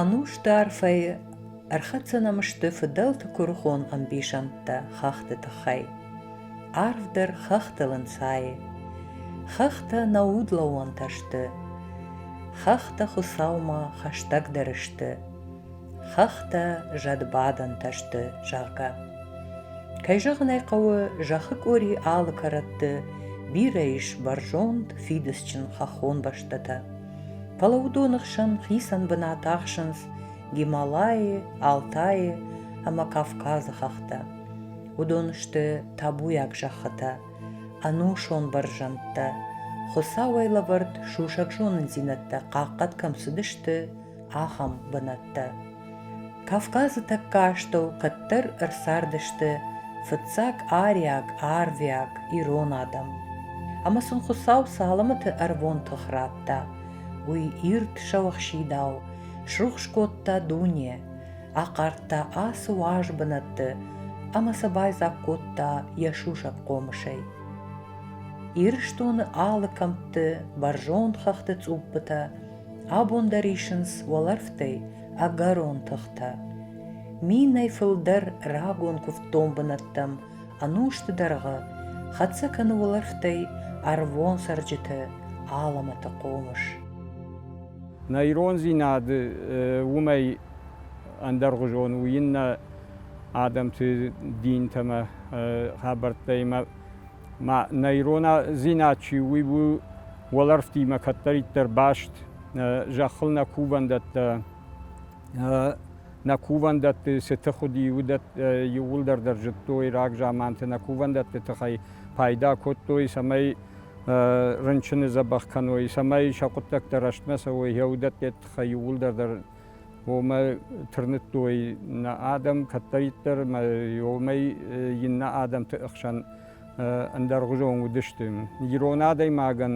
Ӕнустарфӕй ӕрхӕцӕнӕм сты фыдӕлты куырыхон ӕмбисӕндтӕ хӕхты тыххӕй. Арвдӕр хӕхтыл ӕнцайы. Хӕхтӕ нӕ удлӕууӕнтӕ сты. Хӕхтӕ Хуыцаумӕ хӕстӕгдӕр сты. хӕхтӕ зӕдбадӕнтӕ сты, зӕгъгӕ. Кӕй зӕгъын ӕй хъӕуы, зӕххы къори алы кӕрӕтты бирӕ ис бӕрзонд, фидыцджын хӕххон бӕстӕтӕ. Фӕлӕ уыдоны хсӕн хицӕн бынат ахсынц Гималайы, Алтайы ӕмӕ Кавказы хӕхтӕ. Уыдон сты табуйаг зӕххытӕ, ӕнусон бӕрзӕндтӕ, Хуыцауӕй лӕвӕрд сусӕг зонындзинӕдтӕ хъахъхъӕд кӕм цыдысты, ахӕм бынӕттӕ. Кавказы тӕккӕ астӕу кӕддӕр ӕрцардысты фыццаг ариаг, арвиаг ирон адӕм. Ӕмӕ сын Хуыцау цалӕмыты ӕрвон тых радта. Уый ирд сӕуӕхсидау срухс кодта дуне, ахъардта ацы уаз бынӕтты ӕмӕ сӕ байдзаг кодта йӕ сусӕг хъомысӕй. Ирыстоны алы кӕмтты, бӕрзонд хӕхты цъуппытӕ Абон дӕр исынц уӕлӕрвтӕй ӕгӕрон тыхтӕ. Минӕй фылдӕр рагон куывддон бынӕттӕм ӕнусты дӕргъы хӕццӕ кӕны уӕлӕрвтӕй ӕрвон цӕрджыты алӕмӕты хъомыс. Нӕ ирондзинад уымӕй ӕндӕргъуызон у иннӕ адӕмты динтӕ ӕмӕ хабӕрттӕимӕ ма нӕ ирондзинад чи у, уый у уӕлӕрвтимӕ кӕддӕриддӕр баст. Зӕххыл нӕ кувӕндӕттӕ, нӕ кувӕндӕтты цы тых уыди, уыдӕттӕ иууылдӕр дӕр зыдтой, рагзаманты нӕ кувӕндӕтты тыхӕй пайда кодтой, цӕмӕй рынчыны дзӕбӕх кӕной, цӕмӕй сӕ хъуыддӕгтӕ рӕстмӕ цӕуой, йӕ уыдӕтты тыххӕй иууылдӕр дӕр уомӕ тырныдтой нӕ адӕм кӕддӕриддӕр мӕ уомӕй иннӕ адӕмти хсӕн ӕндӕргъузон уыдысты. Ирон адӕймагӕн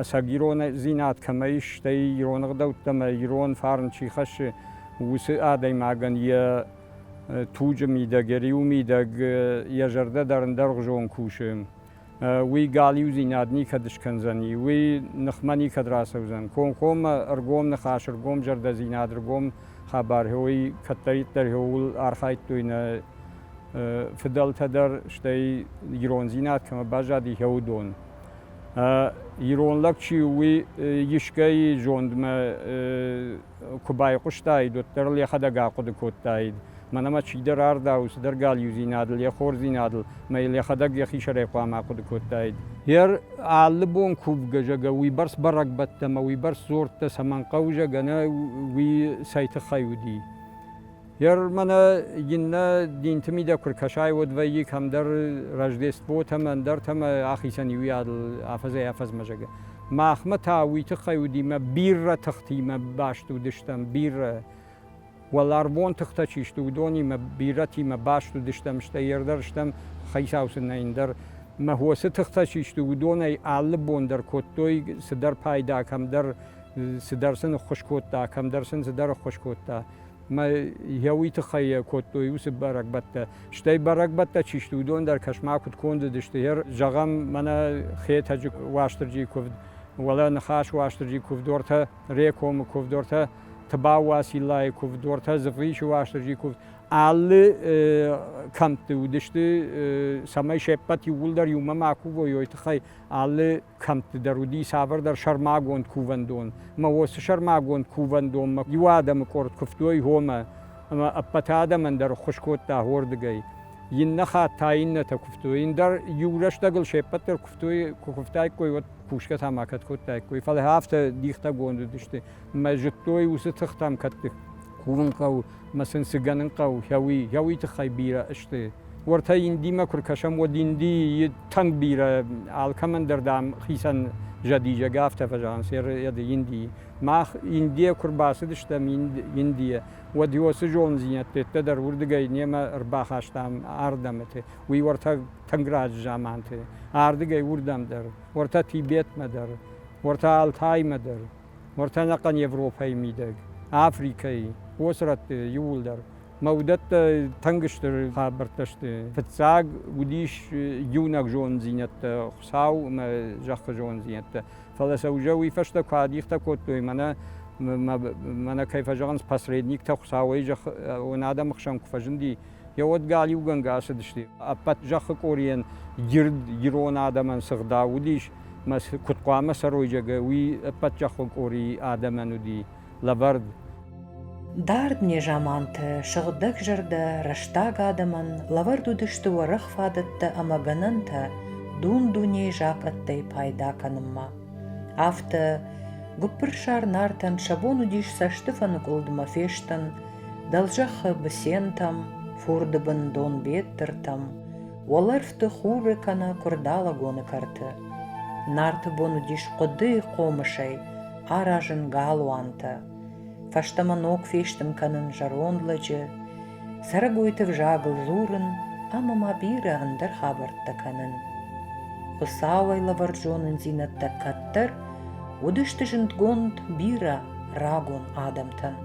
ӕцӕг ирондзинад кӕмӕ ис, стӕй ирон ӕгъдӕуттӕмӕ ирон фарн чи хӕссы, уыцы адӕймагӕн йӕ туджы мидӕг, йӕ риу мидӕг йӕ зӕрдӕ дӕр ӕндӕргъузон кусы. уый галиудзинад никӕд скӕндзӕни, уый ныхмӕ никӕд рацӕудзӕн. Комкоммӕ ӕргом ныхас, ӕргом зӕрдӕдзинад, ӕргом хабар, уый кӕддӕриддӕр иууыл архайдтой нӕ фыдӕлтӕ дӕр, стӕй ирондзинад кӕмӕ баззади, уыдон. Ирон лӕг чи у, уый искӕй зондмӕ куы байхъуыстаид, уӕддӕр ыл йӕхӕдӕг ахъуыды кодтаид, мӕнӕ мӕ чидӕр ардау, цыдӕр галиудзинадыл, йӕ хорздзинадыл, мӕ йыл йӕхӕдӕг йӕхи сӕрӕй хъуамӕ ахъуыды кодтаид. Йе алы бон кувгӕ, зӕгӕ, уыйбӕрц бӕрӕгбӕттӕ ӕмӕ уыйбӕрц дзуӕрттӕ цӕмӕн хъӕуы, зӕгӕ, нӕ уый цӕй тыххӕй уыди? Ер мӕнӕ иннӕ динти мидӕг куд кӕсай, уӕд вӕййи кӕмдӕр Рождествотӕмӕ, ӕндӕртӕмӕ ӕхицӕн иуиадыл афӕдзӕй-афӕдзмӕ зӕгӕ. Махмӕ та уый тыххӕй уыдимӕ бирӕ тыхтимӕ баст уыдыстӕм, бирӕ уӕларвон тыхтӕ чи сты, уыдонимӕ бирӕтимӕ баст уыдыстӕм, стӕй ер дӕр стӕм, хицау сын нӕй ӕндӕр. Махосы тыхтӕ чи сты, уыдонӕй алы бон дӕр кодтой цыдӕр пайда, кӕмдӕр цыдӕр сын ӕххуыс кодта, кӕмдӕр сын цыдӕр ӕххуыс кодта. Мӕ йӕ уый тыххӕй йӕ кодтой уыцы бӕрӕгбӕттӕ. Стӕй бӕрӕгбӕттӕ чи сты, уыдон дӕр кӕс-ма куыд кондыдысты. Зӕгъӕм, мӕнӕ Хетӕджы Уастырджийы куывд, уӕлӕ Ныхас Уастырджийы куывдортӕ, Рекомы куывдортӕ, Тыбау Уациллайы куывдортӕ, Дзывгъисы Уастырджийы куывд. Алы кӕмтты уыдысты, цӕмӕй се ппӕт иууылдӕр иумӕ ма кувой, уый тыххӕй алы кӕмттдӕр уыди цавӕрдӕр сӕрмагонд кувӕндон. Мӕ уыцы сӕрмагонд кувӕндонмӕ иу адӕмы къорд куывтой гъомӕ, ӕмӕ ӕппӕты адӕмӕн дӕр ӕххуыс кодта хордыгӕй. Иннӕ хатт та иннӕтӕ куывтой, ын дӕр иу рӕстӕгыл се ппӕт дӕр куывтой, куы куывтаиккой, уӕд кусгӕ та ма кӕд кодтаиккой. Фӕлӕ афтӕ дихтӕгонд уыдысты, мӕ зыдтой уыцы тыхтӕм кӕддых курын хъӕуы мӕ сын цы гӕнын хъӕуы, хӕуи, хӕуи тыххӕй бирӕ сты. Уӕртӕ Индимӕ куы ркӕсӕм, уӕд Индийы тынг бирӕ, алкӕмӕн дӕр, дам, хицӕн зӕдизӕг афтӕ фӕзӕгъынц йӕ Индийы. Мах Индийӕ куы рбацыдыстӕм Индийӕ, уӕд уыцы зонддзинӕдтӕ дӕр уырдыгӕй немӕ ӕрбахастам ардӕмыты, уый уӕртӕ тынг раджы заманты, ардыгӕй уырдӕм дӕр, уӕртӕ Тибетмӕ дӕр, уӕртӕ Алтаймӕ дӕр. уӕртӕ ӕнӕхъӕн Европӕйы мидӕг, Африкӕйы, уоцы рӕтты иууылдӕр. Мӕ уыдӕттӕ тынг стыр хабӕрттӕ сты. Фыццаг уыдис иунӕг зонддзинӕдтӕ, Хуыцау мӕ зӕххы зонддзинӕдтӕ. Фӕлӕ сӕ уже уый фӕстӕ куы адихтӕ кодтой, мӕнӕ мӕнӕ кӕй фӕзӕгъынц, посредниктӕ Хуыцауӕй зӕххы адӕмы хсӕн куы фӕзынди, Йӕ уӕд галиугӕнгӕ ацыдысты. Ӕппӕт зӕххы къорийӕн ирд ирон адӕмӕн цы гъдау уыдис, мӕ куыд хъуамӕ цӕройджаг уый ӕппӕт зӕххон къорийы адӕмӕн уыди лӕвӕрд. Дард незаманты сыгъдӕгзӕрдӕ рӕстаг адӕмӕн лӕвӕрд уыдысты уӕрӕх фадӕттӕ ӕмӕ гӕнӕнтӕ дун-дунейы закъӕттӕй пайда кӕнынмӕ. Афтӕ, гуыппырсар Нартӕн сӕ бон уыдис цӕсты фӕныкъуылдмӕ фестын, Дӕлзӕххы бысентӕм, фурды бын Донбеттыртӕм, уӕлӕрвты хуры кӕнӕ куырдалӕгоны кӕрты. Нарты бон уыдис хъуыдыйы хъомысӕй аразын галуантӕ. Фӕстӕмӕ ног фестын кӕнын зӕронд лӕджы, цӕрӕгойты взагыл дзурын ӕмӕ ма бирӕ ӕндӕр хабӕрттӕ кӕнын. Хуыцауӕй лӕвӕрд зонындзинӕдтӕ кӕддӕр уыдысты зындгонд бирӕ рагон адӕмтӕн.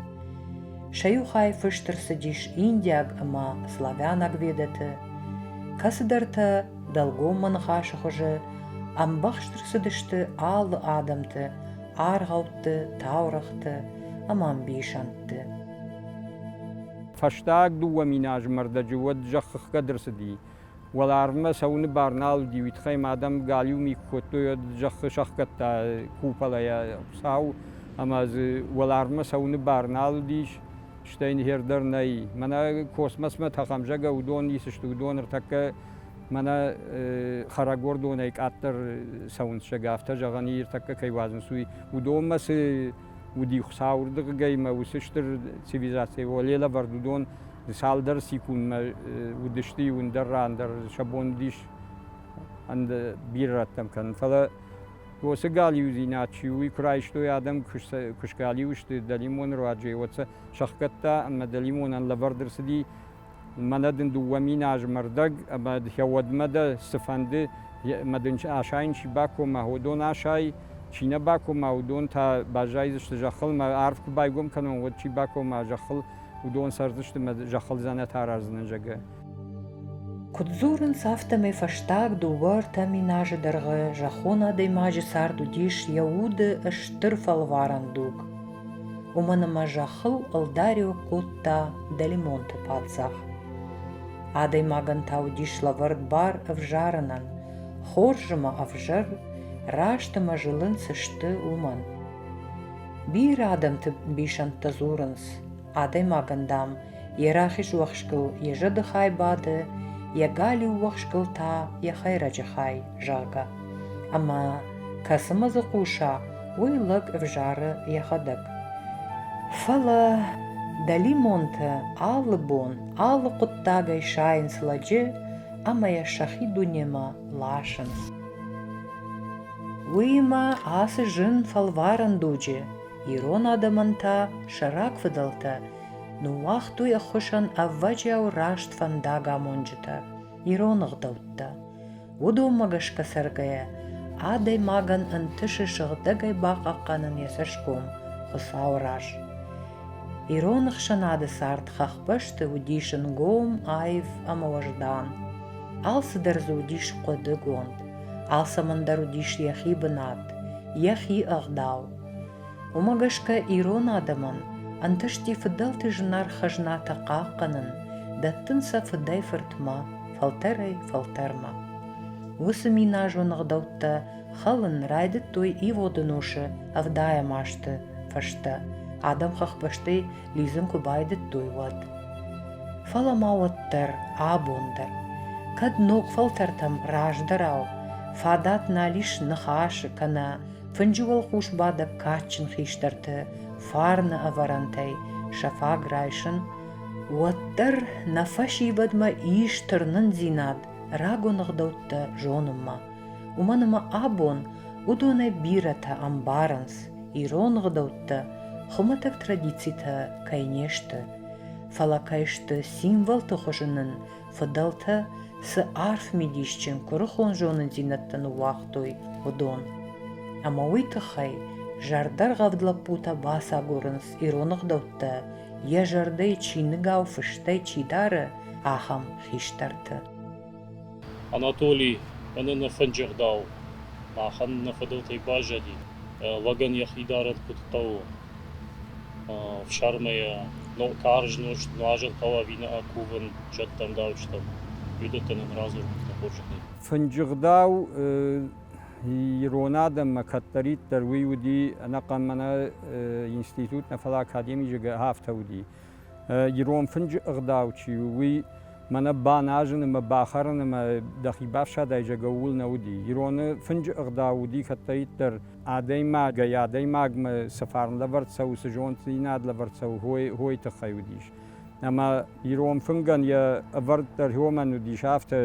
Сӕ иу хай фыст ӕрцыдис индиаг ӕмӕ славянаг ведӕты, кӕцыдӕртӕ дӕлгоммӕ ныхасы хуызы ӕмбӕхст ӕрцыдысты алы адӕмты, аргъӕутты, таурӕгъты ӕмӕ ӕмбисӕндты. Фӕстаг дыууӕ мин азы мӕрдӕджы уӕд зӕххыхгӕд ӕрцыди Уӕларвмӕ цӕуыны бар нал уыди, уый тыххӕй ма адӕм галиу ми куы кодтой, уӕд зӕххы сӕхгӕдта куполӕйӕ сау, ӕмӕ дзы уӕларвмӕ цӕуыны бар нал уыдис, стӕй ныхер дӕр нӕй. Мӕнӕ космосмӕ тӕхӕмзӕгӕ уыдон ницы сты, уыдон ӕртӕккӕ мӕнӕ хӕрӕгордонӕй къаддӕр цӕуынц зӕг, афтӕ зӕгъӕн и, ӕртӕккӕ кӕй уадзынц, уый. Уыдонмӕ цы уыди Хуыцауы рдыгӕй ӕмӕ уыцы стыр цивилизацийӕ, уӕле лӕвӕрд уыдон цалдӕр секундмӕ уыдысты иу ӕндӕр ран дӕр сӕ бон уыдис ӕнде бирӕтӕм кӕнын. Фӕлӕ уыцы галиудзинад чи у, уый куы райстой адӕм, куы сгалиу сты дӕлимоны руаджы, уӕд сӕ сӕхгӕдта ӕмӕ дӕлимонӕн лӕвӕрд ӕрцыди мӕнӕ дын дыууӕ мин азы мӕрдӕг, ӕмӕ дӕ уӕдмӕ дӕ цыфӕнды мӕ дын асайын чи бакома, уыдон асай, чи нӕ бакома, уыдон та баззайдзысты зӕххыл, мӕ арв куы байгом кӕнон, уӕд чи бакома зӕххыл, уыдон цӕрдзысты мӕ зӕххыл дзӕнӕт араздзынӕн, зӕгъгӕ. Куыд дзурынц, афтӕмӕй фӕстаг дыууӕ-ӕртӕ мин азы дӕргъы зӕххон адӕймаджы цард уыдис йӕ уды стыр фӕлварӕн дуг. Уымӕн ӕмӕ зӕххыл ӕлдариуӕг кодта дӕлимонты паддзах. Адӕймагӕн та уыдис лӕвӕрд бар ӕвзарынӕн, хорз ӕмӕ ӕвзӕр, раст ӕмӕ зылынц сты уымӕн. Бирӕ адӕмты ӕмбисӕндтӕ дзурынц, адӕймагӕн, дам, йӕ рахиз уӕхскыл йӕ зӕды хай бады, йӕ галиу уӕхскыл та йӕ хӕйрӕджы хай, зӕгъгӕ. Ӕмӕ кӕцымӕ дзы хъуса, уый лӕг ӕвзары йӕхӕдӕг. Фӕлӕ дӕлимонтӕ алы бон, алы хъуыддагӕй сайынц лӕджы ӕмӕ йӕ сӕхи дунемӕ ласынц. Уыимӕ ацы зын фӕлварӕн дуджы ирон адӕмӕн та сӕ рагфыдӕлтӕ ныууагътой ӕххуысӕн ӕвӕджиау раст фӕндагамонджытӕ, ирон ӕгъдӕуттӕ. Уыдонмӕ гӕсгӕ цӕргӕйӕ, адӕймагӕн ӕнтысы сыгъдӕгӕй бахъахъхъӕнын йӕ цӕсгом Хуыцауы раз. Ирон ӕхсӕнады цард хӕхбӕсты уыдис ӕнгом, аив ӕмӕ уӕздан. Алцыдӕр дзы уыдис хъуыдыгонд. Алцӕмӕн дӕр уыдис йӕхи бынат, йӕхи ӕгъдау. Уымӕ гӕсгӕ ирон адӕмӕн ӕнтысти фыдӕлты зынаргъ хӕзнатӕ хъахъхъӕнын, дӕттын сӕ фыдӕй-фыртмӕ, фӕлтӕрӕй-фӕлтӕрмӕ. Уыцы миназон ӕгъдӕуттӕ хӕлын райдыдтой иводы носы ӕвдайӕм азты фӕстӕ. Адӕм хӕхбӕстӕй лидзын куы байдыдтой, уӕд. Фӕлӕ ма уӕддӕр абон дӕр, кӕд ног фӕлтӕртӕм раздӕрау фадат нал ис ныхасы кӕнӕ фынджы уӕлхъус бадӕг кадджын хистӕрты фарны ӕвӕрӕнтӕй сӕ фаг райсын, уӕддӕр нӕ фӕсивӕдмӕ ис тырнындзинад рагон ӕгъдӕуттӕ зонынмӕ. уымӕн ӕмӕ абон уыдонӕй бирӕтӕ ӕмбарынц, ирон гъдӕуттӕ хуымӕтӕг традицитӕ кӕй не сты, фӕлӕ кӕй сты символты хуызы нын фыдӕлтӕ цы арф мидисджын куырыхон зонындзинӕдтӕ ныууагътой, уыдон. Ӕмӕ уый тыххӕй зӕрдӕргъӕвд лӕппутӕ бацагурынц ирон гъдӕуттӕ йӕ зӕрдӕйы чиныгау фыстӕй чи дары, ахӕм хистӕрты. Анатоли, мӕнӕ нӕ фӕнджыгъдау, махӕн нӕ фыдӕлтӕй баззади, лӕгӕн йӕхи дарӕн куыд хъӕуы. Ӕфсармӕй йӕ карз нозт, нуазӕн хъӕуы ӕви нӕ акувын зӕдтӕн, дауджытӕн, уыдӕттӕ нын радзурдта хорзӕхӕй. Фӕнджыгъдау ирон адӕммӕ кӕддӕриддӕр уый уыди, ӕнӕхъӕн мӕнӕ институт нӕ, фӕлӕ академи зыгӕ афтӕ уыди. ирон фынджы ӕгъдау чи у, уый мӕнӕ баназын ӕмӕ бахӕрын ӕмӕ дӕхи бафсӕдай зӕгӕ ууыл нӕ уыди. Ироны фынджы ӕгъдау уыди кӕддӕриддӕр адӕймагӕй адӕймагмӕ цы фарн лӕвӕрд цӕуы, цы зонддзинад лӕвӕрд цӕуы, хойы, хойы тыххӕй уыдис. Ӕмӕ ирон фынгӕн йӕ ӕвӕрд дӕр уымӕн уыдис, афтӕ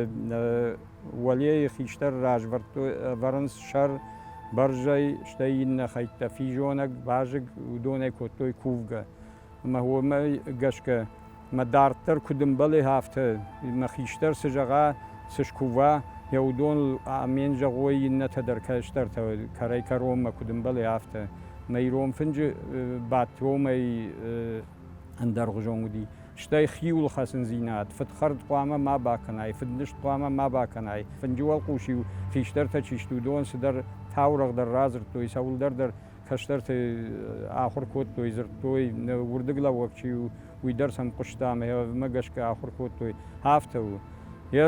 уӕлейы хистӕр развӕрдтой, ӕвӕрынц сӕр бӕрзӕй, стӕй иннӕ хӕйттӕ физонӕг, вазыг, уыдонӕй кодтой кувгӕ. ӕма уомӕй гӕсгӕ мӕ дарддӕр куд ӕмбӕлай, афтӕ мӕ хистӕр цы зӕгъа, цы скува, е уыдон амен зӕгъой, иннӕтӕ дӕр кӕстӕртӕ кӕрӕй-кӕронмӕ куд ӕмбӕлай, афтӕ. Мӕ ирон фынджы бадт уомӕй ӕндӕргъузон уыди. Стӕй хиуыл хӕцындзинад, фыдхӕрд хъуамӕ ма бакӕнай, фыднызт хъуамӕ ма бакӕнай. Фынджы уӕлхъус-иу хистӕртӕ чи сты, уыдон цыдӕр таурӕгъ дӕр радзырдтой, цӕуылдӕр дӕр кӕстӕртӕй ахуыр кодтой, дзырдтой, нӕ уырдыглӕууӕг чи у, уый дӕр сӕм хъуыста ӕмӕ йӕ ӕвмӕ гӕсгӕ ахуыр кодтой. Афтӕ у. Йӕ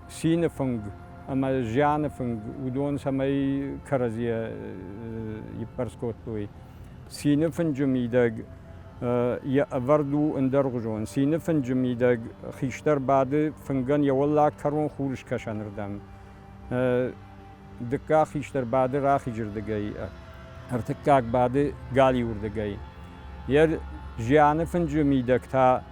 цины фынг ӕмӕ зианы фынг уыдон цӕмӕй кӕрӕдзийӕ иппӕрс кодтой. Цины фынджы мидӕг йӕ ӕвӕрд у ӕндӕргъуызон. Цины фынджы мидӕг хистӕр бады фынгӕн йӕ уӕллаг кӕрон хурыскӕсӕнырдӕм. Дыккаг хистӕр бады рахизы рдыгӕй, ӕртыккаг бады галиуы рдыгӕй. Йӕ зианы фынджы мидӕг та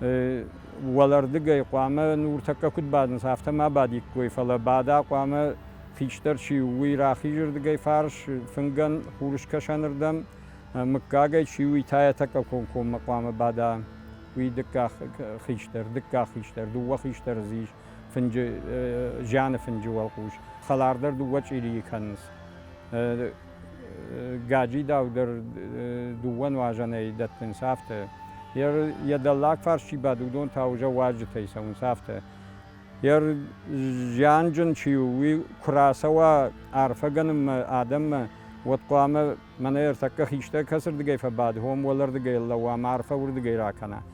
уӕлӕрдыгӕй хъуамӕ нуртӕккӕ куыд бадынц, афтӕ ма бадиккой, фӕлӕ бада хъуамӕ хистӕр чи у, уый рахизы рдыгӕй фарс, фынгӕн хурыскӕсӕны рдӕм, мыггагӕй чи у, уый та йӕ тӕккӕ комкоммӕ хъуамӕ бада. Уый дыккаг хистӕр, дыккаг хистӕр, дыууӕ хистӕры дзы ис. фынджы зианы фынджы уӕлхъус хӕлар дӕр дыууӕ чъирийы кӕнынц. Гаджидау дӕр дыууӕ нуазӕнӕй дӕттынц афтӕ. Йӕ дӕллаг фарс чи бады, уыдон та уже уазджытӕй цӕуынц афтӕ. Йӕ зианджын чи у, уый куы рацӕуа арфӕгӕнынмӕ адӕммӕ, уӕд хъуамӕ мӕнӕ ӕртӕккӕ хистӕр кӕцырдыгӕй фӕбады, уым уӕлӕрдыгӕй лӕууа ӕмӕ арфӕ уырдыгӕй ракӕна.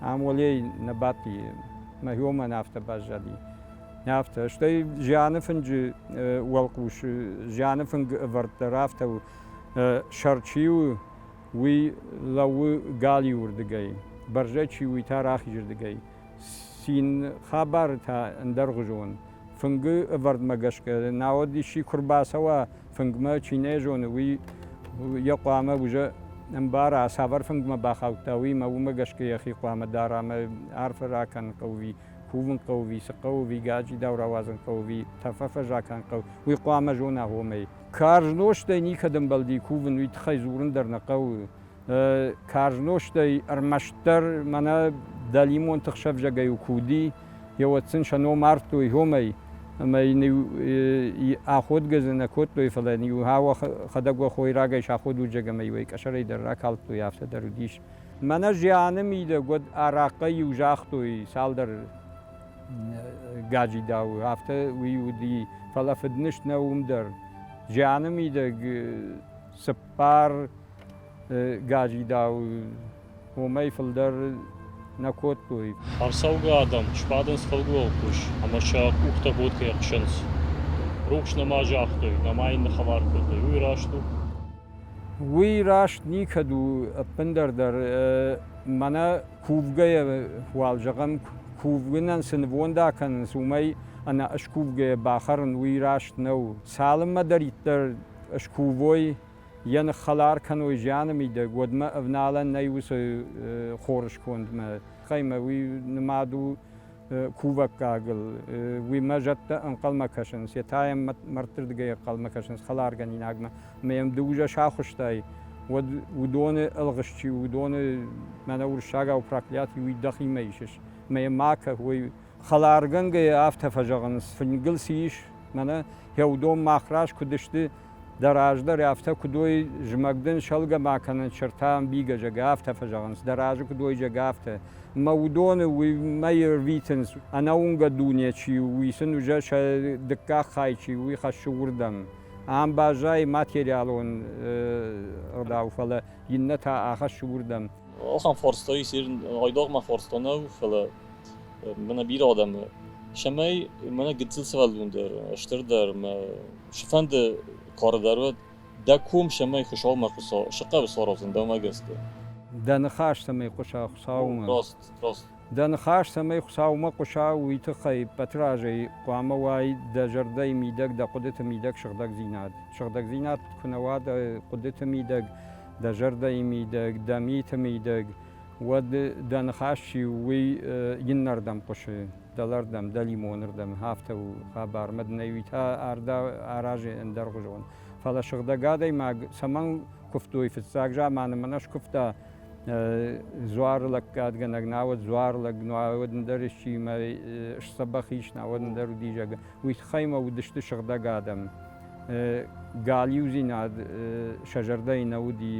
Ам уӕлей нӕ бадти, мӕ уомӕн афтӕ баззади. Афтӕ, стӕй зианы фынджы уӕлхъус, зианы фынг ӕвӕрд дӕр афтӕ у, сӕр чи у, уый лӕууы галиу рдыгӕй, бӕрзӕ чи у, уый та рахизырдыгӕй. Цин хабары та ӕндӕргъуызон. Фынгы ӕвӕрдмӕ гӕсгӕ, науӕд исчи куы рбацӕуа фынгмӕ чи нӕ зоны, уый йӕ хъуамӕ уза ӕмбара, цавӕр фынгмӕ бахаудта, уый, ӕмӕ уымӕ гӕсгӕ йӕхи хъуамӕ дара ӕмӕ арфӕ ракӕнын хъӕуы, кувын хъӕуы, цы хъӕуы, уый гаджидау рауадзын хъӕуы, тӕф фӕзакӕн хъӕуы, уый хъуамӕ зона, гъомӕй. Карз нозтӕй никӕд ӕмбӕлди кувын, уый тыххӕй дзурын дӕр нӕ хъӕуы. карз нозтӕй ӕрмӕстдӕр мӕнӕ дӕлимон тыхсӕвзагӕй у куы уыди, еуӕд сын сӕ ном ардтой Гьомӕй, ӕмӕ йын аходгӕ дзы нӕ кодтой, фӕлӕ йын-иу хӕдӕг уӕ хойрагӕй саходуджӕг ӕмӕ йуӕй къӕсӕрӕй дӕр ракалдтой, афтӕ дӕр уыдис. Мӕнӕ зианы мидӕг уӕд арахъхъӕй-иу загътой цалдӕр гаджидауы, афтӕ уый уыди, фӕлӕ фыднызт нӕ уым дӕр. Зианы мидӕг цыппар гаджидау уомӕй фулдӕр нӕ кодтой. Ӕрцӕугӕ адӕм сбадынц фӕлгоы хъус ӕмӕ сӕ къухтӕ боткӕйӕ хсынц. Рухс нӕма загътой, нӕма йын ныхӕвар кодтой, уый раст у? Уый раст никӕд у, ӕппындӕр дӕр. Мӕнӕ кувгӕйӕ, уал зӕгъӕм, кувынӕн цы нывонда кӕнынц, уымӕй ӕнӕ скувгӕйӕ бахӕрын уый раст нӕу. Цалынмӕ дӕр иттӕг скувой, йӕ ныххӕлар кӕной зианы мидӕг, уӕдмӕ ӕвналӕн нӕй уыцы хорыскондмӕ. Хъаймӕ уый нымад у кувӕггагыл, уыимӕ зӕдтӕ ӕнхъӕлмӕ кӕсынц, йе та йӕм мӕрдтырдыгӕй ӕнхъӕлмӕ кӕсынц хӕларгӕнинагмӕ, ӕмӕ йӕм ды ужӕ сахуысттай, уӕд уыдоны ӕлгъыст чи у, уыдоны, мӕнӕ уырыссагау, проклятий, уый дӕхимӕ исыс, ӕмӕ йӕ макӕ, уой. Хӕларгӕнгӕйӕ афтӕ фӕзӕгъынц, фынгыл цы ис, мӕнӕ, фӕудон, мах раз куыд сты, Дӕ раздӕр афтӕ куы дой, зымӕг дын сӕлгӕ ма кӕнын, сырдтӕ ӕмбийгӕ зӕгӕ афтӕ фӕзӕгъынц, дӕ разы куы дой зӕгӕ афтӕ. Мӕ уыдоны уыимӕ ирвитынц, ӕнӕуынгӕ дуне чи у, уый сын уызӕ сӕ дыккаг хай чи у, уый хӕссы уырдӕм. Ам баззайы материалон ӕгъдау, фӕлӕ иннӕтӕ ахӕссы уырдӕм. Охӕн форстой сир, гъойдогмӕ форстонӕу, фӕлӕ мӕнӕ бирӕ адӕмы, цӕмӕй мӕнӕ гыццыл сывӕллон дӕр, стырдӕр мӕ цыфӕнды кары дӕр уӕд дӕ ком цӕмӕй Хуыцаумӕ сыхъӕуы сарахдзӕн, дӕумӕ гӕсгӕ? Дӕ ныхас цӕмӕй хъуыса Хуыцаумӕ? Раст, раст. Дӕ ныхас цӕмӕй Хуыцаумӕ хъуыса, уый тыххӕй Батырадзӕй хъуамӕ уай дӕ зӕрдӕйы мидӕг дӕ хъуыдыты мидӕг сыгъдӕгдзинад. Сыгъдӕгдзинад куы нӕ уа дӕ хъуыдыты мидӕг, дӕ зӕрдӕйы мидӕг, дӕ миты мидӕг, Уӕд дӕ ныхас чи у, уый иннӕрдӕм хъуысы, дӕлӕрдӕм, дӕлимонырдӕм, афтӕ у хабар, маднӕ уый та аразы ӕндӕргъуызон. Фӕлӕ сыгъдӕг адӕймаг цӕмӕн куывтой? Фыццаг заманы мӕнӕ скуывта дзуары лӕггадгӕнӕг, науӕд дзуары лӕг, науӕд ӕндӕр исчиимӕ сдзӕбӕх ис, науӕд ӕндӕр удизӕг, уый тыххӕй мӕ уыдысты сыгъдӕг адӕм. галиудзинад сӕ зӕрдӕйы нӕ уыди,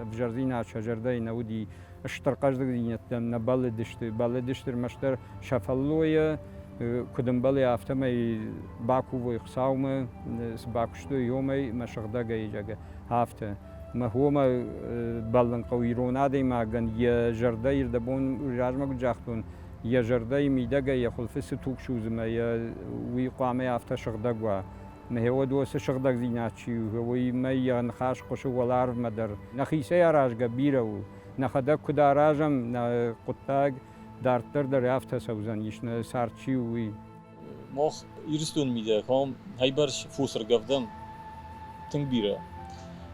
ӕвзӕрдзинад сӕ зӕрдӕйы нӕ уыди, стыр хъӕздыгдзинӕдтӕм нӕ бӕллыдысты, бӕллыдысты ӕрмӕстдӕр сӕ фӕллойӕ, куыд ӕмбӕлы, афтӕмӕй бакувой Хуыцаумӕ, цы бакуыстой омӕй, мӕ сыгъдӕгӕй, зӕгъгӕ, афтӕ. Мӕ хомӕ бӕллын хъӕуы ирон адӕймагӕн йӕ зӕрдӕйы дӕ бон размӕ куыд загътон, йӕ зӕрдӕйы мидӕгӕй йӕ хуылфы цы туг судзы мӕ йӕ уый хъуамӕ афтӕ сыгъдӕг уа. Мӕ уод уоцы сыгъдӕгдзинад чи у, уыимӕ йӕ ныхас хъуысы уӕларвмӕ дӕр. Нӕхицӕй аразгӕ бирӕ у. Нӕхӕдӕг куыд аразӕм, нӕ хъуыддаг дарддӕр дӕр афтӕ цӕудзӕнис, нӕ цард чи у, уый. Мах, Ирыстоны мидӕгӕм, ӕйбӕрц фосы ргӕвдӕм тынг бирӕ.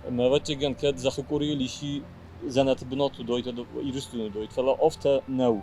Ӕмӕ, ӕвӕццӕгӕн, кӕд зӕххы къорийыл исчи дзӕнӕты бынат уыдоид, Ирыстоны уыдоид, фӕлӕ афтӕ нӕу.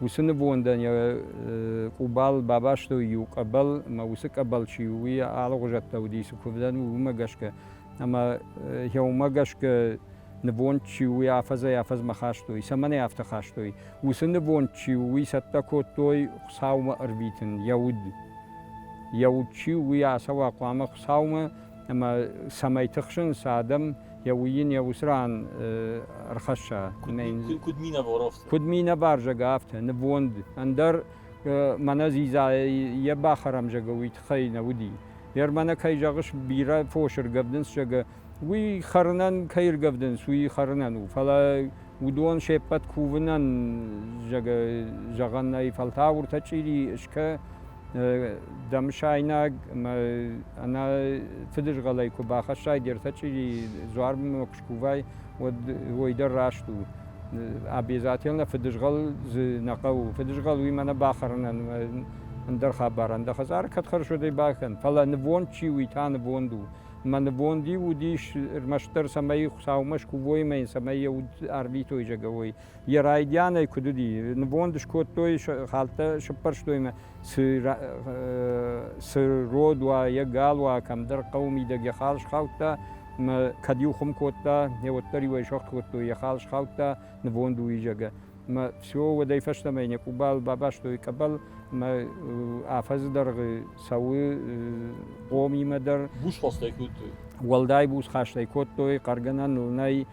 Уыцы нывондӕн йӕ къубал бабастой иу къӕбӕл ӕмӕ уыцы къӕбӕл чи у, уый алыгъуызӕттӕ уыди, цы куывдӕн у, уымӕ гӕсгӕ. Ӕмӕ йӕ уымӕ гӕсгӕ нывонд чи у, уый афӕдзӕй-афӕдзмӕ хастой. Цӕмӕн ӕй афтӕ хастой? Уыцы нывонд чи у, уый цӕттӕ кодтой Хуыцаумӕ ӕрвитын, йӕ уд. Йӕ уд чи у, уый ацӕуа хъуамӕ Хуыцаумӕ ӕмӕ цӕмӕй тыхсын, сӕ адӕм йӕ уый йын йӕ уыцы ран ӕрхӕсса. Куыд минӕваров? Куыд минӕварзаг афтӕ, нывонд. Ӕндӕр мӕнӕ дзидза йӕ бахӕрам зӕгы, уый тыххӕй нӕ уыди. Гъер мӕнӕ кӕй зӕгъыс, бирӕ фосы ргӕвдынц, зӕгы, уый хӕрынӕн кӕй ргӕвдынц, уый хӕрынӕн у, фӕлӕ уыдон се ппӕт кувынӕн, зӕгы, зӕгъӕн нӕй, фӕлтау ӕртӕ чъири скӕ Дамысайнаг ӕмӕ ӕнӕ фыдызгъӕлӕй куы бахӕссай де ртӕ чъири дзуармӕ куы скувай, уӕд уый дӕр раст у. Обязательно фыдызгъӕл дзы нӕ хъӕуы. Фыдызгъӕл уимӕ нӕ бахӕрынӕн ӕндӕр хабарӕн. Дӕ хӕдзары кӕд хӕрзудӕй бакӕн, фӕлӕ нывонд чи у, та нывонд у. Мӕ нывонд-иу уыдис ӕрмӕстдӕр, цӕмӕй Хуыцаумӕ скувоимӕ йын цӕмӕй йӕ уд ӕрвитой зӕгӕуой. йӕ райдианӕй куыд уыди, нывонд скодтой, хӕлттӕ сыппӕрстой мӕ цы род уа, йӕ гал уа, кӕмдӕр хъӕуы мидӕг йӕ хал схаудта, мӕ кӕд иу хуым кодта, не уӕддӕр иуӕй сӕгъд кодтой, йӕ хал схаудта, нывонд у изӕгӕ. Мӕ все уӕдӕй фӕстӕмӕ йын йӕ къубал бабастой къӕбӕл, мӕ афӕдзы дӕргъы цӕуы хъомимӕ дӕр. Буз хастӕй кодтой? Уӕлдай буз хастӕй кодтой, хъӕргӕнӕн нӕй,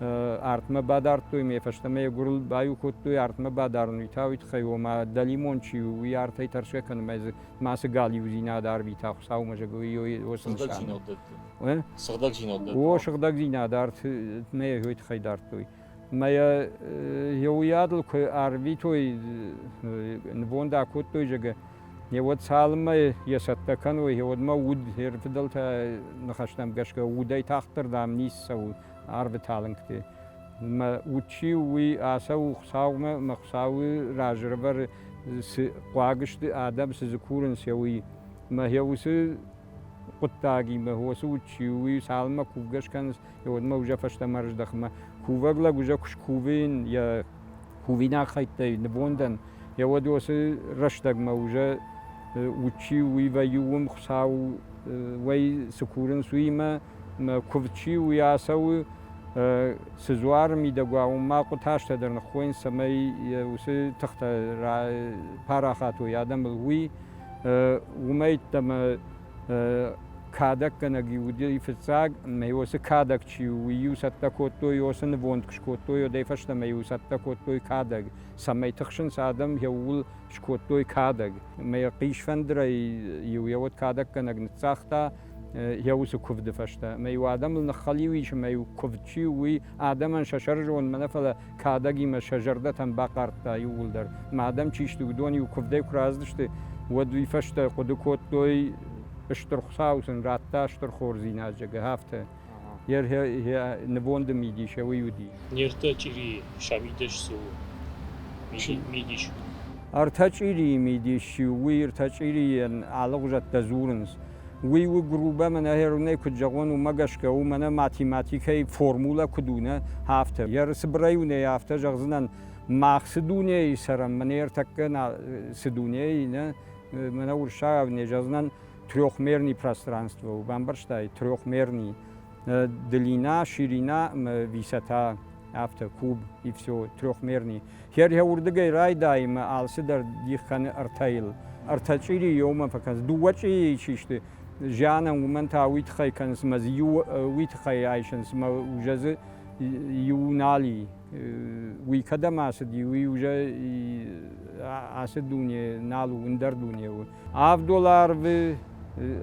артмӕ бадардтой, ме фӕстӕмӕ йӕ гуырыл баиу кодтой, артмӕ бадарын уый та уый тыххӕй, ома дӕлимон чи у, уый артӕй тӕрсгӕ кӕнынмӕ дзы мацы галиудзинад арвита Хуыцаумӕ, зӕгой уыцы нысанӕн. Сыгъдӕгдзинад дӕтты. О, сыгъдӕгдзинад артмӕ йӕ тыххӕй дардтой. Мӕ йӕ уый адыл куы арвитой, нывонд акодтой, зӕгӕ, уӕд цалынмӕ йӕ цӕттӕ кӕной, уӕдмӕ уд, йе рфыдӕлтӕ ныхӕстӕм гӕсгӕ удӕй тагъддӕрдӕм ницы цӕуы арвы талынгты. Мӕ уд чи у, уый ацӕуы Хуыцаумӕ, мӕ Хуыцауы разы рывӕры, цы хъуаг сты адӕм, цы дзы курынц, уый. Мӕхи уыцы хъуыддагимӕ, уыцы уд чи у, уый цалынмӕ кувгӕ скӕнынц, уӕдмӕ узӕ фӕстӕмӕ ӕрыздӕхынмӕ. Кувӕг лӕг узӕ куы скувын, йӕ Кувинаг хӕйттӕй нивонд ан, е уӕд уоси рӕстӕгмӕ ужӕ удчи уи вӕййуун, Хуцау уӕй ци курынц, уимӕ, ӕма кувд чи уи ацӕуы, цы дзуар мидӕгуа, уымӕ къутӕртӕ дӕр ныххойынц, цӕмӕй уыцы тыхтӕ парахат уой адӕмыл, уый уымӕйттӕмӕ кадӕггӕнӕг-иу уыди фыццаг, ӕмӕ-иу уыцы кадӕг чи у, уый-иу цӕттӕ куыдтой, уыцы нывонд куы скодтой, уӕдӕй фӕстӕмӕ-иу цӕттӕ кодтой кадӕг, цӕмӕй тыхсынц адӕм, йӕ ууыл скодтой кадӕг. Ӕмӕ йӕ хъисфӕндырӕй-иу йӕ уӕд кадӕггӕнӕг ныццагъта йӕ уыцы куывды фӕстӕ. Ӕмӕ-иу адӕмыл ныххӕлиу ис, ӕмӕ-иу куывд чи у, уый адӕмӕн сӕ сӕрызонынмӕ нӕ, фӕлӕ кадӕгимӕ сӕ зӕрдӕтӕн бахъардта иууылдӕр, ма адӕм чи сты, уыдон-иу куывдӕй куы рӕзыдысты, уӕд уый фӕстӕ хъуыды кодтой, Стыр Хуыцау сын радта стыр хорздзинад, зӕгъгӕ, афтӕ. Йӕ нывонды мидис уый уыди. Ӕртӕ чъирийы сабидӕс цы у? Мидис. Ӕртӕ чъирийы мидис чи у, уый ӕртӕ чъирийӕн алыгъуызӕттӕ дзурынц. Уый у грубӕ, мӕнӕ Херунӕй куыд зӕгъон, уымӕ гӕсгӕ у, мӕнӕ математикӕйы формулӕ куыд у, нӕ афтӕ. Йӕ цыбырӕй уынӕй афтӕ зӕгъдзынӕн, мах цы дунейы цӕрӕм, мӕнӕ ӕртӕккӕ нӕ цы дунейы, нӕ мӕнӕ урсагау не зӕгъдзынӕн трехмерный пространство, бамбӕрстай, трехмерный длина, ширина, высота, афтӕ, куб и все, трехмерный. Херхе уырдыгӕй райдайынмӕ алцыдӕр дих кӕны ӕртӕйыл. Ӕртӕ чъири иумӕ фӕкӕнынц. Дыууӕ чъирийы чи сты, зианӕн, уымӕн та уый тыххӕй кӕнынц ӕмӕ дзы иу уый тыххӕй айсынц ӕмӕ уже дзы иу нал и. Уый кӕдӕм ацыди, уый уже ацы дуне нал у, ӕндӕр дуне у. Авддол арвы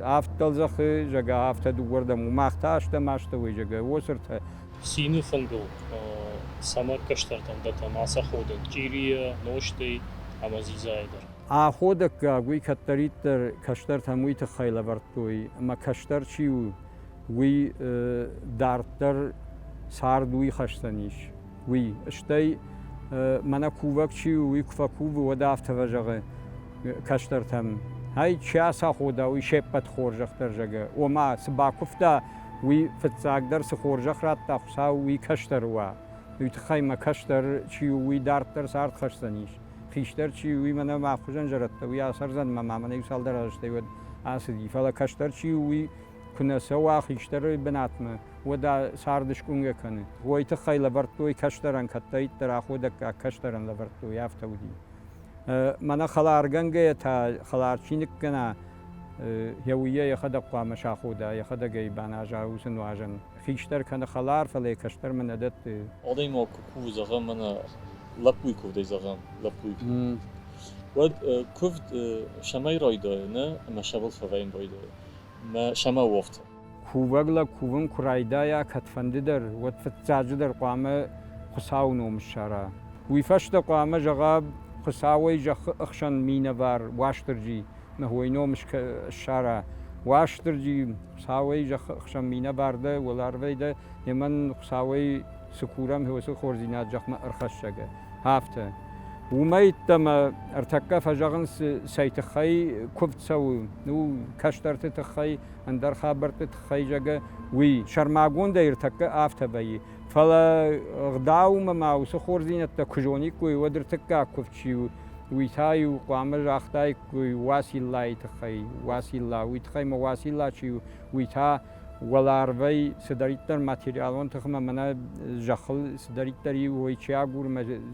авд дӕлдзӕхы, зӕгӕ, афтӕ дыууӕрдӕм, мах та астӕм астӕуӕй, зӕгӕ, уосыртӕ. Цины фынгыл цӕмӕ кӕстӕрты ӕндӕртӕм ацаходӕг чъирийӕ, нозтӕй ӕмӕ дзидзайӕ дӕр? Аходӕггаг уый кӕддӕриддӕр кӕстӕртӕм уый тыххӕй лӕвӕрдтой, ӕмӕ кӕстӕр чи у, уый дарддӕр цард уый хӕсдзӕнис. уый. Стӕй мӕнӕ кувӕг чи у, уый куы фӕкувы, уӕд афтӕ фӕзӕгъы кӕстӕртӕм, Ай чи ацахода, уый се ппӕт хорзӕх дӕр зӕгы. Ома, цы бакуывта, уый фыццагдӕр цы хорзӕх радта Хуыцау, уый кӕстӕры уа. Уый тыххӕй мӕ кӕстӕр чи у, уый дарддӕр цард хӕсдзӕнис. Хистӕр чи у, уый мӕнӕ мӕ хуызӕн зӕрӕдтӕ, уый асӕрдзӕн мӕ ма мӕнӕ иу цалдӕр азӕстӕй уӕд ацыди. Фӕлӕ кӕстӕр чи у, уый куы нӕ цӕуа хистӕры бынатмӕ, уӕд царды скъуынгӕ кӕны. Уый тыххӕй лӕвӕрдтой кӕстӕрӕн, кӕддӕриддӕр аходӕггаг кӕстӕрӕн лӕвӕрдтой, афтӕ уыди. Мӕнӕ хӕларгӕнгӕйӕ та хӕлар чи ныккӕна, йӕ уййа йӕхӕдӕг хъуамӕ сахода, йӕхӕдӕг ӕй баназа уыцы нуазӕн. Хистӕр кӕны хӕлар, фӕлӕ йӕ кӕстӕрмӕ нӕ дӕтты. Адӕймаг куы кувы, зӕгъӕм, мӕнӕ лӕппуйы куывдӕй, зӕгъӕм, лӕппуйы куывд, уӕд куывд сӕмӕй райдайы, нӕ ӕмӕ сӕ был фӕвӕййын байдайы. мӕ самововты. Кувӕг лӕг кувын куы райдайа кӕдфӕндыдӕр, уӕд фыццаджыдӕр хъуамӕ Хуыцауы ном ссара. Уый фӕстӕ хъуамӕ зӕгъа Хуыцауӕй зӕххы ӕхсӕн минӕвар Уастырджи, Уый ном ссара. Уастырджи, Хуыцауӕй зӕххы ӕхсӕн минӕвар дӕ, уӕларвӕй дӕ, йе мӕн Хуыцауӕй цы курӕм, уыцы хорздзинад зӕхмӕ ӕрхӕссӕг. афтӕ. Уымӕй йддӕмӕ ӕртӕккӕ фӕзӕгъынц, цӕй тыххӕй куывд цӕуы, у кӕстӕрты тыххӕй, ӕндӕр хабӕртты тыххӕй, зӕгъгӕ, уый. Сӕрмагондӕй ӕртӕккӕ афтӕ вӕййы. Фӕлӕ ӕгъдаумӕ ма уыцы хорздзинӕдтӕ куы зониккой, уӕд ӕртыккаг куывд чи у, уый та-иу хъуамӕ загътаиккой Уациллайы тыххӕй, Уацилла, уый тыххӕй ӕмӕ Уацилла чи у, уый та, уӕларвӕй цыдӕриддӕр материалон тыхмӕ мӕнӕ зӕххыл цыдӕриддӕр и уой чи агуры,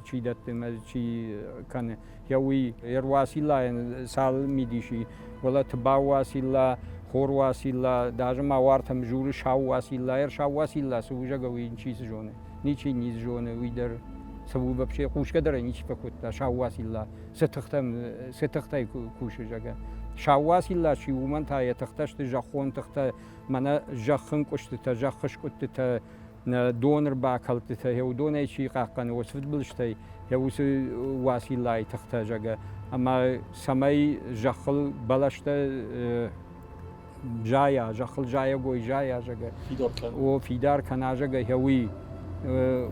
чи дӕтты, чи кӕны, йӕ уый ӕруасиллайӕн цал мидис и, уӕлӕ тыбау уасилла, хор уасилла, даже ма уартӕм журы сау уасилла, ӕрсау уасилла сывузӕгау ничи цы зоны, ничи не зоны уый дӕр. Сыву вообще хъусгӕ дӕр ӕй ничи фӕкодта, сау уасилла сӕ тыхтӕм сӕ тыхтӕй кусы, зӕгъгӕ. Сауас илла чи, уымӕн та йӕ тыхтӕ сты зӕххон тыхтӕ, мӕнӕ зӕххынкъуыстытӕ, зӕххыскъуыдтытӕ, нӕ донырбакӕлдтытӕ, йӕ уыдонӕй чи хъахъхъӕны, уыцы фыдбылызтӕй йӕ уыцы Уациллайы тыхтӕ, зӕгъгӕ. Ӕмӕ цӕмӕй зӕххыл бӕлӕстӕ зайа, зӕххыл зайӕгой зайа, зӕгӕ. Фидар кӕна. О, фидар кӕна, зӕгӕ, гьеуи.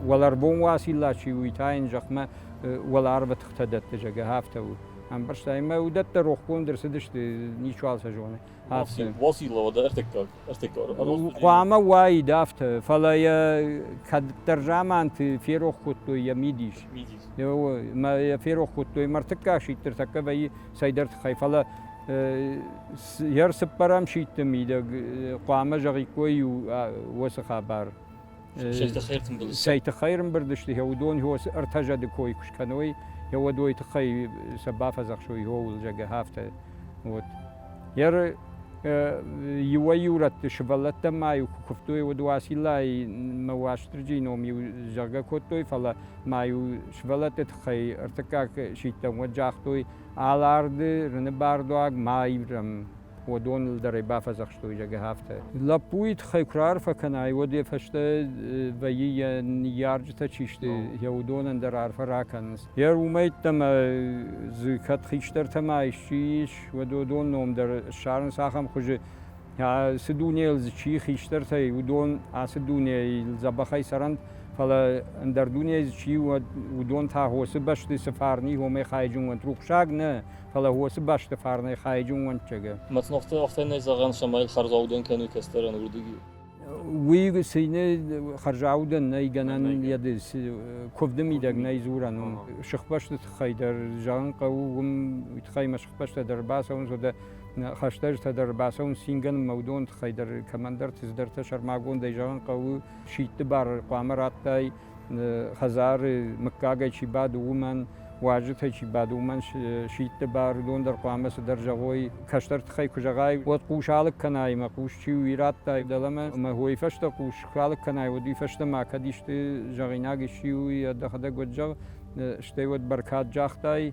Уӕларвон уацилла чи у, та йын зӕхмӕ уӕларвы тыхтӕ дӕтты, зӕгӕ, афтӕ у. Ӕмбӕрста, ӕмӕ уыдӕттӕ рохгонд ӕрцыдысты, ничуал сӕ зоны. Афтӕ. Уацилла уӕдӕ ӕртыккаг, ӕртыккаг. Хъуамӕ уаид афтӕ, фӕлӕ йӕ кӕддӕр заманты ферох кодтой йӕ мидис. Мидис. Ӕмӕ йӕ ферох кодтой мӕрдтыккаг сидтыр тӕккӕ вӕййы цӕйдӕр тыххӕй, фӕлӕ Йе рцыппӕрӕм сидты мидӕг хъуамӕ зӕгъиккой-иу уыцы хабар. Цӕйты хӕйрымбырд сты, йӕ уыдон йо цы ӕртӕ зӕды кой куы скӕной, йӕ уӕдой тыххӕй сӕ бафӕдзӕхсой, ууыл, зӕгъы, афтӕ. Вот. Йе иуӕй-иурӕтты сывӕллӕттӕ ма-иу куы куывтой, уӕд Уациллаимӕ Уастырджийы ном-иу зӕгъгӕ кодтой, фӕлӕ ма-иу сывӕллӕтты тыххӕй ӕртыккаг сидтӕм уӕд загътой, Аларды рыны бардуаг ма ирӕм, уыдоныл дӕр ӕй бафӕдзӕхстой, зӕгъы афтӕ. Лӕппуйы тыххӕй куы раарфӕ кӕнай, уӕд йӕ фӕстӕ вӕййы йӕ ныййарджытӕ чи сты, йӕ уыдонӕн дӕр арфӕ ракӕнынц. Йӕ румӕйттӕ ӕмӕ дзы кӕд хистӕртӕ ма исчи ис, уӕд уыдон ном дӕр ссарынц ахӕм хуызы, Ацы дунейыл дзы чи хистӕртӕй, уыдон ацы дунейыл дзӕбӕхӕй цӕрӕнт, фӕлӕ ӕндӕр дунейы дзы чи уӕд, уыдон та хосы бӕсты цы фарни хомӕй хайджын уӕнт, рухсаг нӕ, фӕлӕ хосы бӕсты фарнӕй хайджын уӕнтджыгы. Мӕцнохты ӕхтӕнӕй зӕгъӕн, цӕмӕй хӕрзаудӕн кӕны кӕстӕрӕн уырдыгӕй. Уый цины хӕрзаудӕн нӕй гӕнӕн йӕ куывды мидӕг нӕй дзурӕн уым. Сыхбӕсты тыххӕй дӕр зӕгъын хъӕуы, уым тыххӕй мӕ сыхбӕстӕ дӕр бацӕуынц, уӕдӕ хӕстӕджытӕ дӕр бацӕуын цингӕн мӕудон тыххӕй дӕр кӕмӕндӕрты цыдӕртӕ сӕрмагондӕй зӕгъын хъӕуы, сидты бар хъуамӕ раттай хӕдзары мыггагӕй чи бады, уымӕн, уазджытӕй чи бады, уымӕн сидты бар, уыдон дӕр хъуамӕ цыдӕр зӕгъой. Кӕстӕр тыххӕй куы зӕгъай, уӕд хъус алыг кӕнай, ӕмӕ хъус чи у, уый раттай дӕлӕмӕ, ӕмӕ уый фӕстӕ хъус куы алыг кӕнай, уӕд уый фӕстӕмӕ кӕд исты зӕгъинаг исчи у, уый ӕдӕхӕдӕг уӕд зӕгъ, стӕй уӕд бӕркад загътай.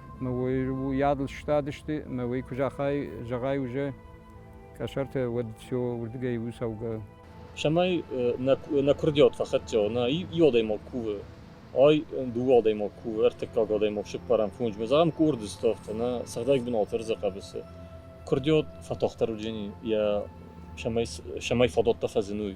уыйадыл сыстадысты ӕмӕ уый куы загъай, зӕгъай уже къӕсӕртӕ, уӕд все уырдыгӕй у цӕугӕ. Цӕмӕй нӕ куырдиат фӕхӕццӕ, нӕ иу адӕймаг кувы, ай дыууӕ адӕймаг кувы, ӕртыккаг адӕймаг сыппарӕм фонсмӕ, зӕгъӕм, къорды ставта, нӕ цӕгъдӕг бынаты ӕрдзы хъӕбысы куырдиат фӕтагъддӕр уыдзӕни йӕ цӕмӕй фадаттӕ фӕзыной.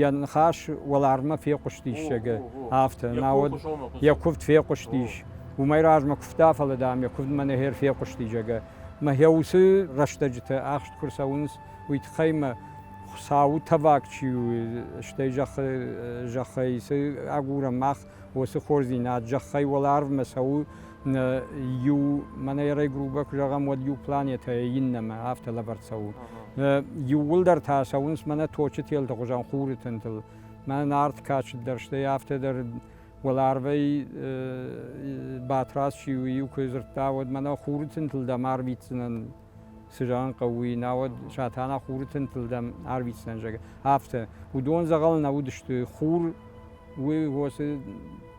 йӕ ныхас уӕларвмӕ фехъуыстиссӕгы, афтӕ, науӕд йӕ куывд фехъуыстис, уымӕй размӕ куывта, фӕлӕ, дам, йӕ куывд мӕнӕ хер фехъуысти, зӕгъгӕ. Мӕхе уыцы рӕстӕджытӕ ахст куы рцӕуынц, уый тыххӕй мӕ Хуыцауы тӕваг чи у, стӕй зӕххы зӕххӕй цы агурӕм мах, уыцы хорздзинад зӕххӕй уӕларвмӕ цӕуы, иу, мӕнӕ ерӕй грубо куы зӕгъӕм, уӕд иу планетӕйы иннӕмӕ афтӕ лӕвӕрд цӕуы. Иууылдӕр та цӕуынц мӕнӕ точы телты хуызӕн хуры тынтыл. Мӕнӕ нард качд дӕр, стӕй афтӕ дӕр уӕларвӕй Батраз чи у, иу куы дзырдта, уӕд мӕнӕ хуры тынтыл дӕм арвитдзынӕн цы зӕгъын хъӕуы, науӕд Сатана хуры тынтыл дӕм арвитдзынӕн, зӕгъгӕ. Афтӕ. Уыдон дзӕгъӕл нӕ уыдысты. Хур уыцы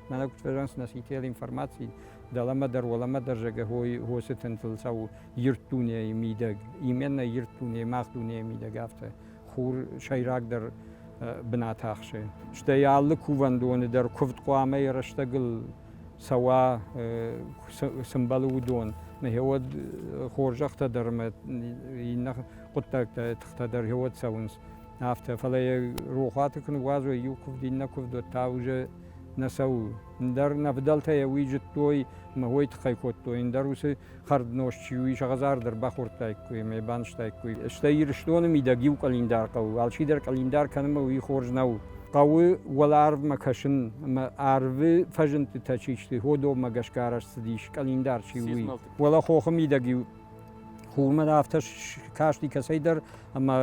Мӕнӕ куыд фӕзӕнцнӕ сител информаци, дӕлӕмӕ дӕр, уӕлӕмӕ дӕр зӕгӕ хосы тынтыл цӕуы ирд дунейы мидӕг. Именно ирд дуне, мах дунейы мидӕг афтӕ хур сӕйрагдӕр бынат ахсы. Стӕй алы кувӕндоны дӕр куывд хъуамӕ йӕ рӕстӕгыл цӕуа, сымбӕлы уыдон. Нӕхиуӕд хорзӕхтӕ дӕр ӕмӕ иннӕ хъуыддӕгтӕ, тыхтӕ дӕр хиуӕд цӕуынц. Афтӕ, фӕлӕ йӕ рохуаты куы ныгуадзой, иу куывд, иннӕ куывдуат та уже нӕ цӕуы. Ндӕр нӕ фыдӕлтӕ йӕ уый зыдтой ӕмӕ уый тыххӕй кодтой, ндӕр уыцы хӕрднозт чи у, ис ӕгъӕдзар дӕр бахордтаиккой ӕмӕ йӕ банызтаиккой. Стӕй Ирыстоны мидӕг иу къӕлиндар хъӕуы, алчидӕр къӕлиндар кӕнынмӕ уый хорз нӕу. Хъӕуы уӕларвмӕ кӕсын ӕмӕ арвы фӕзындтытӕ чи сты, Ходоммӕ гӕсгӕ арӕзт цыдис, къӕлиндар чи у, уый. Уӕлӕ хохы мидӕг иу Хурмӕ афтӕ касти кӕцӕйдӕр ӕмӕ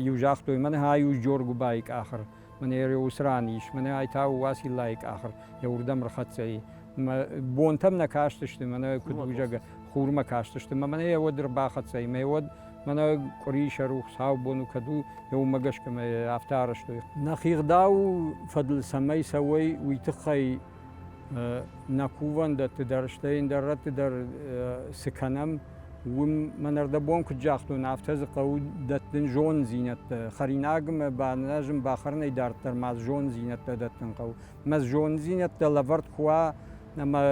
иу загътой, мӕнӕ ай у Джоргубайы къахыр, мӕнӕ уыцы ран ис, мӕнӕ ай та у Уациллайы къахыр, йӕ уырдӕм рхӕццӕ и. Мӕ бонтӕм нӕ кастысты, мӕнӕ куыд у зӕгъы, хурмӕ кастысты, мӕ мӕнӕ йӕ уӕд ӕрбахӕццӕ и, мӕ уӕд мӕнӕ къуыри сӕ рухс сау бон у, кӕд у, йӕ уымӕ гӕсгӕ мӕ афтӕ арӕзтой. Нӕ хигъдау фӕдыл цӕмӕй цӕуой, уый тыххӕй нӕ кувӕндӕтты дӕр, стӕй ӕндӕр рӕтты дӕр цы кӕнӕм, уым мӕнӕрдӕбон куыд загътон, афтӕ дзы хъӕуы дӕттын зонддзинӕдтӕ. Хӕринагмӕ баназын, бахӕрынӕй дарддӕр ма зонддзинӕдтӕ дӕттын хъӕуы. Мӕ зонддзинӕдтӕ лӕвӕрд куы уа, ӕмӕ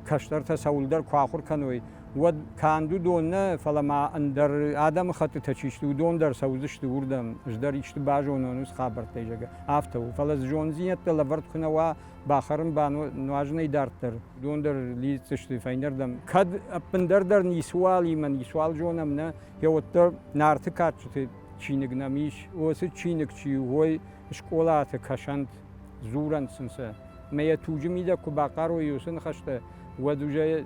кӕстӕртӕ цӕуылдӕр куы ахуыр кӕной, уӕд канд уыдон нӕ, фӕлӕ ма ӕндӕр адӕмыхӕттытӕ чи сты, уыдон дӕр цӕудзысты уырдӕм, ӕз дӕр исты базонон уыцы хабӕрттӕй, зӕгъгӕ, афтӕ у. Фӕлӕ дзы зонддзинӕдтӕ лӕвӕрд куы нӕ уа, бахӕрын-ба нуазынӕй дарддӕр, уыдон дӕр лидздзысты фӕйнӕрдӕм. Кӕд ӕппындӕр дӕр ницыуалимӕ ницуал зонӕм нӕ, гъеуӕддӕр Нарты кадджыты чиныг нӕм ис, уыцы чиныг чи у, уой скъолаты кӕсӕнт. дзурӕнт сын сӕ. Ӕмӕ йӕ туджы мидӕг куы бахъарой уыцы ныхӕстӕ, уӕд уже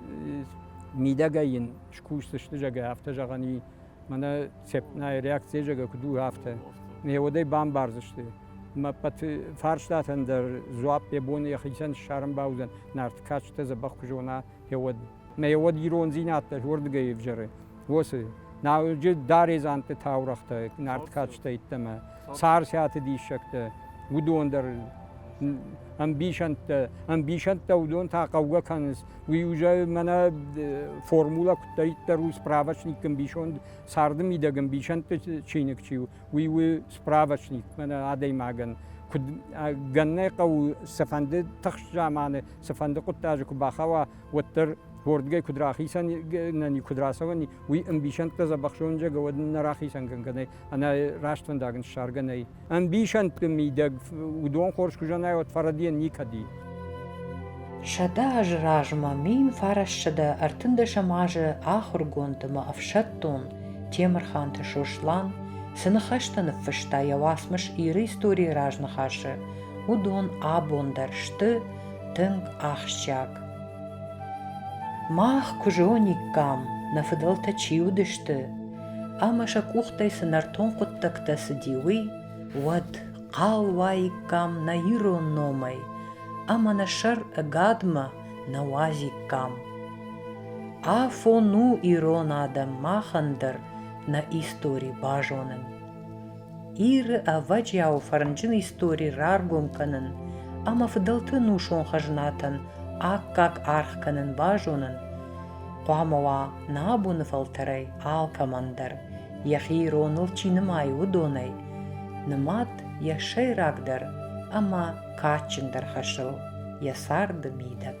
мидӕгӕй йын скусдзысты, зӕгӕ, афтӕ зӕгъӕн и, мӕнӕ цепнайы реакцийӕ зӕгӕ куыд у, афтӕ. Ӕмӕ уӕдӕй бамбардзысты. Ӕмӕ ӕппӕт фарстатӕн дӕр дзуапп йӕ бон йӕхицӕн ссарын бауыдзӕн, Нарт кадджытӕ дзӕбӕх куы зона, уӕд. Ӕмӕ уӕд ирондзинад дӕр уырдыгӕй ӕвзӕры. уоцы. Науджы Даредзанты таурӕгътӕ нард кадджытӕ йеддӕмӕ Царциаты диссӕгтӕ, уыдон дӕр ӕмбисӕндтӕ. Ӕмбисӕндтӕ уыдон та хъӕугӕ кӕнынц. Уый уже мӕнӕ формулӕ куыддӕриддӕр у справочник ӕмбисонд, царды мидӕг ӕмбисӕндты чиныг чи у, уый у справочник мӕнӕ адӕймагӕн. Куыд гӕннӕй хъӕуы цыфӕнды тыхст заманы, цыфӕнды хъуыддаджы куы бахауа, уӕддӕр уордгӕй куд рахицӕнӕн куд рацӕуӕни, уи ӕмбисӕндтӕ дзӕбӕхсонджӕгӕ уӕд нӕ рахицӕн гӕнгӕнӕй, ӕнӕ растфӕндагӕн ссаргӕ нӕй. Ӕмбисӕндти мидӕг удон хорз ку зӕнай, уӕд фӕрӕдийӕн никӕди. Сӕдӕ азы размӕ мин фарассӕдӕ ӕртындӕсӕм азы ахургонд ӕмӕ ӕфсӕддон Темырханты Сослан цы ныхӕстӕ ныффыста йӕ уацмыс Иры историйы разныхасы, уыдон абон дӕр сты тынг ахсджиаг. Мах куы зониккам, нӕ фыдӕлтӕ чи уыдысты, ӕмӕ сӕ къухтӕй цы нӕртон хъуыддӕгтӕ цыди, уый, уӕд хъал уаиккам нӕ ирон номӕй ӕмӕ нӕ сӕр ӕгадмӕ нӕ уадзиккам. Афон у ирон адӕм махӕн дӕр нӕ истори базонын. Иры ӕвӕджиауы фӕрнджын истори раргом кӕнын ӕмӕ фыдӕлты ӕнусон хӕзнатӕн аккаг аргъ кӕнын базонын хъуамӕ уа нӕ абоны фӕлтӕрӕй алкӕмӕн дӕр, йӕхи ироныл чи нымайы, уыдонӕй, нымад йӕ сӕйрагдӕр ӕмӕ кадджындӕр хӕсыл, йӕ царды мидӕг.